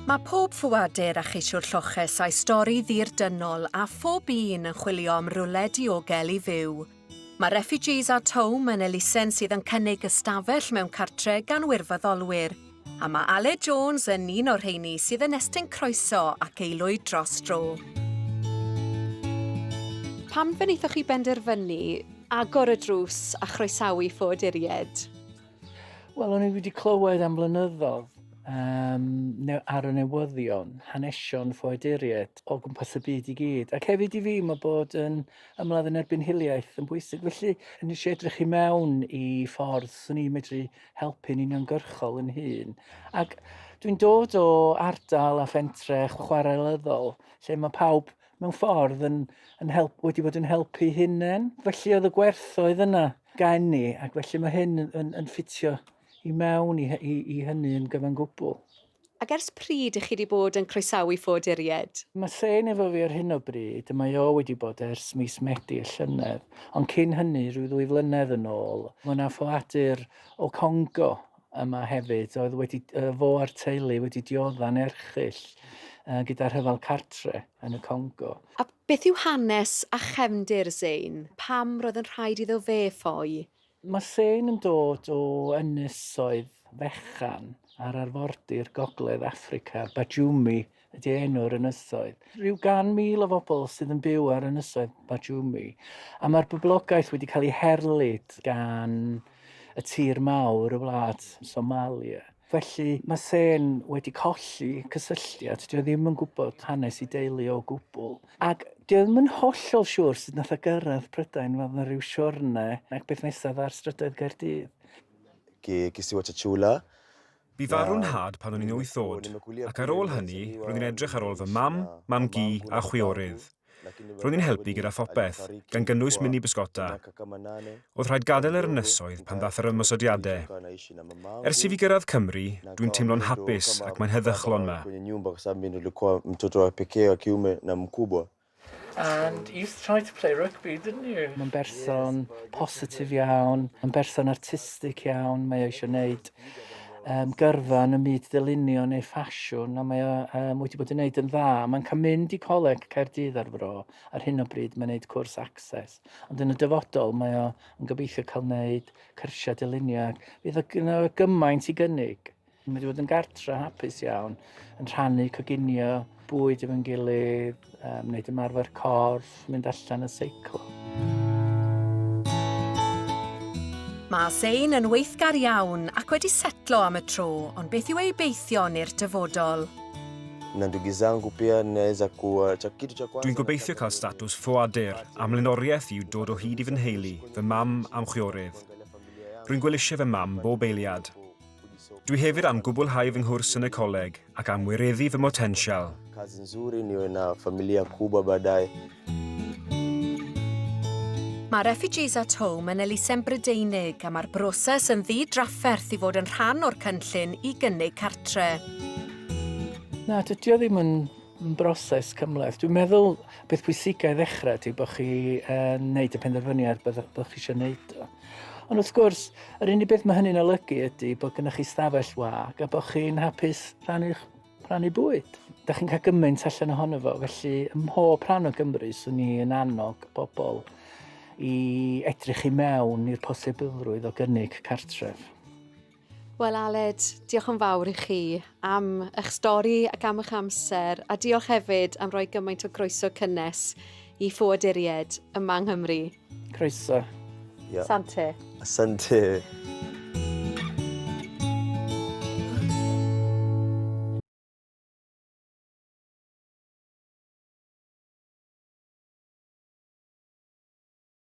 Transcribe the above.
Mae pob ffoadur a cheisiwr lloches a'i stori ddirdynol a phob un yn chwilio am rywle diogel i fyw. Mae Refugees at Home yn elusen sydd yn cynnig ystafell mewn cartre gan wirfoddolwyr. A mae Aled Jones yn un o'r rheini sydd yn estyn croeso ac eilwyd dros dro. Pam fe wnaethoch chi benderfynu agor y drws a chroesawu ffoaduriaid? Wel, o'n i wedi clywed am flynyddoedd um, ar y newyddion, hanesion ffoaduriaid o gwmpas y byd i gyd. Ac hefyd i fi, mae bod yn ymladd yn erbyn hiliaeth yn bwysig. Felly, nes i edrych i mewn i ffordd swn i'n medru helpu'n uniongyrchol yn hun. Ac dwi'n dod o ardal a phentre chwarelyddol lle mae pawb mewn ffordd yn, yn help, wedi bod yn helpu hunain. Felly oedd y gwerthoedd yna gen i ac felly mae hyn yn, yn, yn ffitio i mewn i, i, i hynny yn gyfan gwbl. Ac ers pryd i chi di bod yn croesawu ffoaduriaid? Mae Sane efo fi ar hyn o bryd, mae o wedi bod ers mis Medi y llynedd, ond cyn hynny, rhyw ddwy flynedd yn ôl, mae 'na ffoadur o Congo yma hefyd oedd wedi, fo a'r teulu wedi diodda'n erchyll gyda rhyfel cartre yn y Congo. A beth yw hanes a chefndir Zane? Pam roedd yn rhaid iddo fe ffoi? Mae Sane yn dod o ynysoedd fechan ar arfordir gogledd Affrica, Bajumi ydy enw'r ynysoedd. Rhyw gan mil o fobl sydd yn byw ar ynysoedd Bajumi, a mae'r boblogaeth wedi cael ei herlid gan y tir mawr, y wlad Somalia. Felly mae Sen wedi colli cysylltiad, dyw e ddim yn gwybod hanes ei deulu o gwbl. Ac dyw e ddim yn hollol siŵr sut nath o gyrraedd Prydain, fel na ryw siwrne ac beth nesaf ar strydoedd Caerdydd. Ki kisiwa cha chula. Bu farw'n nhad pan o'n i'n wyth oed, ac ar ôl hynny roedd hi'n edrych ar ôl fy mam, mam-gu a chwiorydd. Roedd hi'n helpu gyda phopeth, gan gynnwys mini bysgota. Oedd rhaid gadael yr ynysoedd pan ddath yr ymosodiadau. Ers i fi gyrraedd Cymru, dwi'n teimlo'n hapus ac mae'n heddychlon 'ma. And you tried to play rugby, didn't you? Mae'n berson positif iawn, mae'n berson artistig iawn, mae o eisiau 'neud um, gyrfa yn y myd dylunio neu ffasiwn, a mae o um, wedi bod yn gwneud yn dda. Mae'n cael mynd i coleg Caerdydd ar fro, ar hyn o bryd mae'n gwneud cwrs access, ond yn y dyfodol mae o yn gobeithio cael gwneud cyrsiau dylunio, ac fydd o gymaint i gynnig. Mae wedi bod yn gartre hapus iawn, yn rhannu coginio bwyd efo'n gilydd, um, wneud ymarfer corff, mynd allan y seiclo. Mae Sein yn weithgar iawn ac wedi setlo am y tro, ond beth yw ei beithio i'r dyfodol? Dwi'n gobeithio cael statws ffoadur. Am lenoriaeth yw dod o hyd i fy nheulu, fy mam a'm chwiorydd. Rwy'n gwelusio fy mam bob eiliad. Dwi hefyd am gwblhau fy nghwrs yn y coleg ac am wireddu fy motensial. Kazi nzuri niwe na familia kubwa baadaye. Mae Refugees at Home yn elusen Brydeinig a mae'r broses yn ddi-drafferth i fod yn rhan o'r cynllun i gynnig cartre. Na, dydy o ddim yn broses cymhleth. Dwi'n meddwl beth pwysicau i ddechrau ydy bod chi yn uh, wneud y penderfyniad bod, bod chi eisiau gwneud o. Ond wrth gwrs, yr unig beth mae hynny'n olygu ydy bod gennych chi stafell wag a bod chi'n hapus rhannu'ch rhannu bwyd. Da chi'n cael gymaint allan ohono fo, felly ym mhob rhan o Gymru swn i yn annog bobl i edrych i mewn i'r posibilrwydd o gynnig cartref. Wel Aled, diolch yn fawr i chi am eich stori ac am eich amser a diolch hefyd am roi gymaint o groeso cynnes i ffoaduried yma yng Nghymru. Croeso. Yeah. Sante. Sante.